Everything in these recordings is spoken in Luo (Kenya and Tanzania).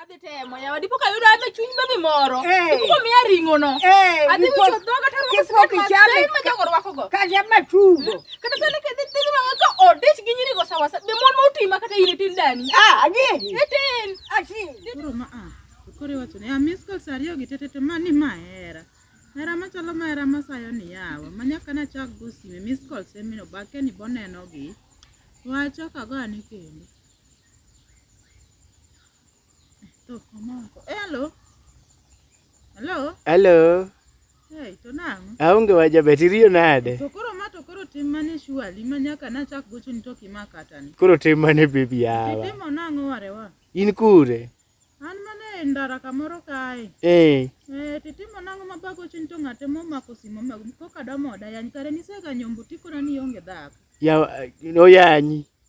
Adhi temo yawa, dipo ka yudo ame chuny baby moro. Eh. Dipo miya ring'o no. Eh, Adhi dipo- wicho dhoga to arwako dipo sikat ma- kichame sani ma ka- jogo rwako go. Kaja matugo. Kata sani ka dhi dhi ma ka odich gi nyiri go sawa sawa. Be mon ma oti ma kata in itin dani. Ah, adieri. Itin. Ati. Koro ma a. Koro iwacho ni a miss calls ariyo gi tetete ma ni ma hera. Hera machalo ma hera masayo ni yawa. Ma nyaka na chak go sime miss calls emino bake ni boneno gi. Wacho kago ani kendo. Hello. Hello. Hello. Hey, to nang'o? Aonge waja bet iriyo nade? To koro ma to koro tim mane surely ma nyaka nachak gocho ni to kimaka tani. Koro tim mane baby yawa. Itimo nang'o warewa? In kure? An mana e ndara kamoro kae. Eh. Eh, titimo nang'o ma bago chiny to ng'ate momako simo ma koka damoda yany kare niseganyo mbuti kona ni onge dhako. Ya oyanyi.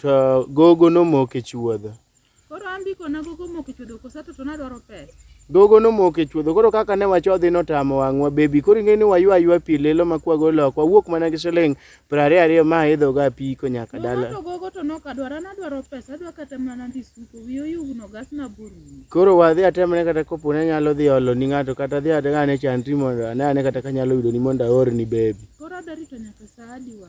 To gogo nomoko e chuodho. Koro an biko na gogo moko e chuodho kosa to na dwaro pesa. Gogo nomoko e chuodho koro kaka ne wachodhi notamo wang'wa baby koro ing'e ni waywa aywa pi lilo ma kwago lok wawuok mana gi siling piero ariyo ariyo ma idho ga apiko nyaka dala. To gogo to nok adwara na dwaro pesa adwa kata mana dhi suko wiyo yugno gas na buru. Koro wadhi atemne kata kopo ne nyalo dhi olo ni ng'ato kata dhi adhi ane chandri mondo ane ane kata kanyalo yudo ni mondo aorni baby. Koro adwa rito nyaka saa adi wa.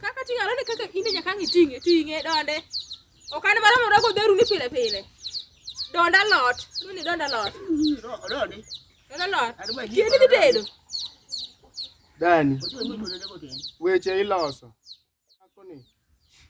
Kaka ting'e alode kaka inde nyaka ang' iting'e ting'e donde. Ok an mara mora godheru ni pile pile. Donda lot. Doni donda lot. Doni. Donda lot. Kiendi dhi tedo. Dani. Weche iloso.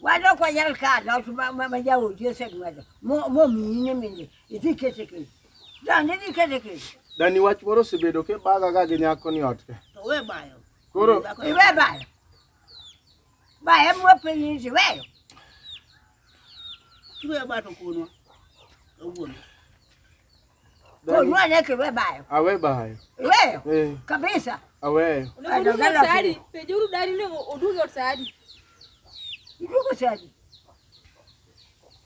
wado kwa yal ka na tu ma ma ja o je se ma do mo mo mi ne mi ne iti kete ke da ne di kete ke da ni wach moro sebedo ke baga ga gi nyako ni ot ke to we bayo koro we bayo ba e mo pe ni se we yo tu e ba to kuno to wuon Kunua neke we bayo. Awe bayo. Weyo. Eh. Kabisa. Aweyo. Unakudu sari. Pejuru dari ne odugo sari. Idugo sari.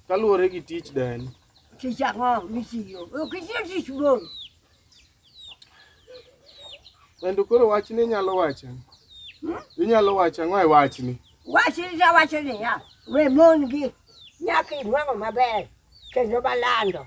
Kaluwore gi tich dani. Tich ang'o mitiyo? Ok itiyo tich wuon. Kendo koro wachni inyalo wacho. Hmm? Inyalo wacho ang'o e wachni? Wachni ta wacho niya, we mon gi nyaka inwang'o maber kendo malando.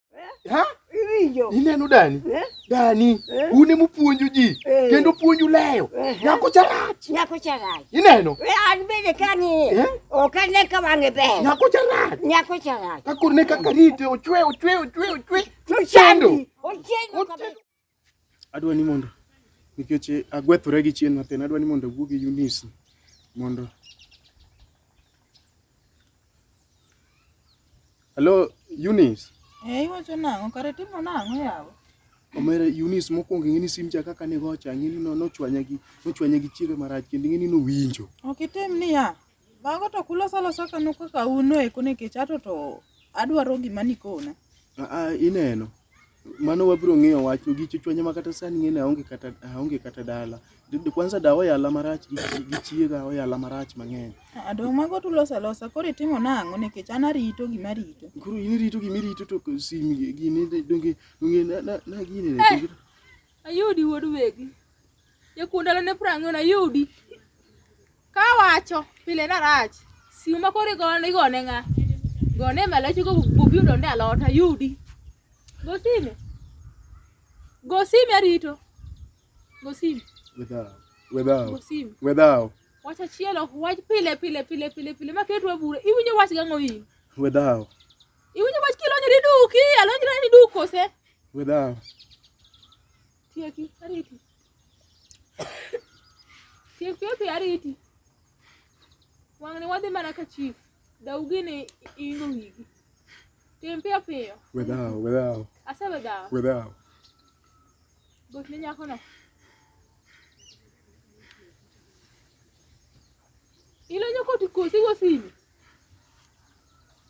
Ha? Iwinjo. Ineno dani? Eh? Dani, eh? une mupuonjo ji eh? kendo puonju leyo. Eh? Nyako charach. Nyako charach. Ineno? We an bende kani. Eh? Ok ane ka wang'e ber. Nyako charach. Nyako charach. Kakor ne kaka rite ochwe ochwe ochwe ochwe. Ochando. Ochando. adwa ni mondo nikech agwethora gi chien matin, adwa ni mondo awuo gi Eunice mondo Hello Eunice. Eh, iwacho nang'o? Kare timo nang'o yawa? Omera Eunice mokwongo ing'e ni sim cha kaka nigo cha ing'e ni no- nochwanya gi nochwanya gi chiega marach kendo ing'e ni nowinjo. Ok itim niya. Mago to kuloso alosa kano kaka uno eko nikech ato to adwaro gima nikona. Aa, ineno mano wabiro ng'iyo wach gi chuchwanya ma kata sani ng'ene aonge kata aonge kata dala Did- kwanza dawa yala marach gi chi- gi chiega oyala marach mang'eny Aa, dong' mago to uloso alosa koro itimo nang'o nikech an arito gima arito. koro in irito gima irito to ko- simi gi- gini de- donge donge na- na na gini ne- Ayudi wuod wegi. Jakuo ndalone piero ang'wen ayudi kawacho pile narach simu ma koro igone igone ng'a gone e malachi go bobi odonde alot ayudi go sime go sime arito go sime Wedhaw. Wedhaw. go sime Wedhaw. wach achiel ok wach pile pile pile pile pile ma ketu e bura iwinjo wach gang'o in Wedhaw. iwinjo wach kilonyri duki alonyra ni duk kose Wedhaw. Tieki, ariti. Tiek piyo piyo ariti. Wang'ni wadhi mana ka chief. Daugi ni ingo wigi. Tim piyo piyo. Wedhawo, wedhawo, Asebe dhawo. wedhawo. Bot ne nyako no. Ilonyo koti kosi go simi.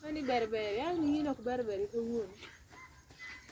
Mani berber, yani ino ok berber kawuono.